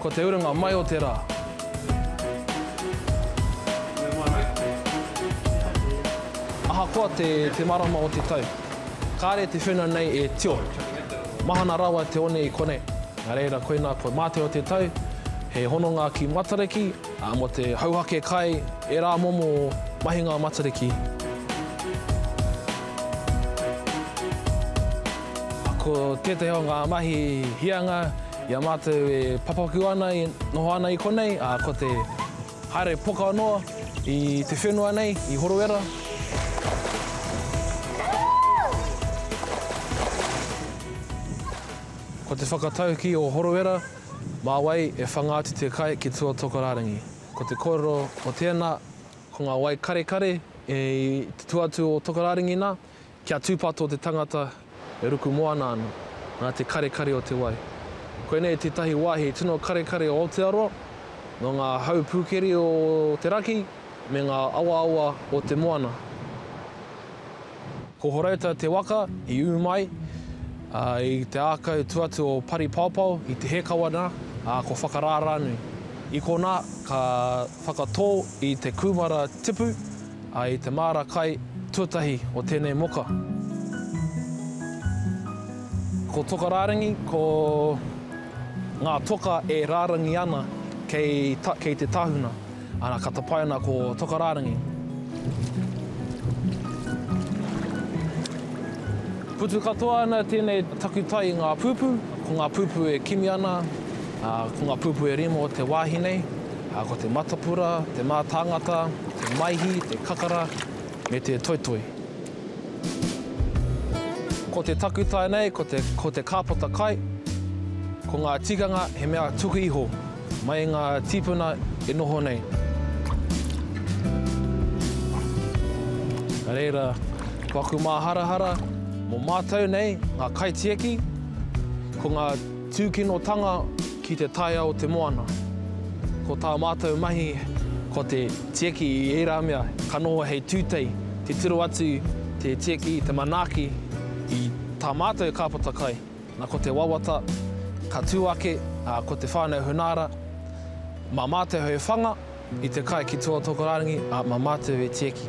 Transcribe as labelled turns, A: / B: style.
A: Ko te urunga mai o te ra. Ahakoa te te marama o te tau. Kare te whena nei e tio. Mahana rawa te one i konei. Na reira koina ko mate o te tau he hononga ki Matariki a mo te hauhake kai e ra momo mahinga Matariki. Ko tetahi o nga mahi hianga. I a mātou e papaku ana e noho ana i konei, ko te haere poka noa i te whenua nei i Horowera. Ko te whakatauki o Horowera, mā wai e whanga atu te kai ki tua Tokorārangi. Ko te kōrero o tēnā, ko ngā wai karekare i te tua atu o Tokorārangi nā, Kia tūpato te tangata e ruku moana ana, nā te karekare o te wai. Koinei tētahi wāhi tino karekare o Aotearoa, nō ngā hau pūkeri o te raki me ngā awaawa o te moana. Ko Horouta te waka i ū mai i te ākau tū atu o Paripaopao i Te Hēkawa nā, ā, ko Whakarārānui. I konā ka whakatō i te kūmara tipu A i te māra kai tuatahi o tēnei moka. Ko toka rārangi, ko ngā toka e rārangi ana kei ta, kei te tahuna. Ana, ka tapaina ko toka rārangi. Putu katoa ana tēnei takutai i ngā pūpū. Ko ngā pūpū e kimi ana, ā, ko ngā pūpū e rima o te wāhi nei. ā, ko te matapura, te mātāngata, te maihi, te kakara, me te toitoi. Ko te takutai nei, ko te kāpata kai, ko ngā tikanga he mea tuku iho mai i ngā tīpuna e noho nei. Nā reira, ko aku māharahara mō mātou nei ngā kaitiaki, ko ngā. Tūkinotanga ki te taea o te moana. Ko tā mātou mahi ko te tieki i ērā mea ka noho hei tūtei, titiro atu te tieki i te manaaki i tā mātou kāpata kai, nā ko te wawata ka tū ake, ā, ko te whānau Hunaara, mā mātou hei whanga i te kai ki tua o Tokorangi, ā, mā mātou e tieki.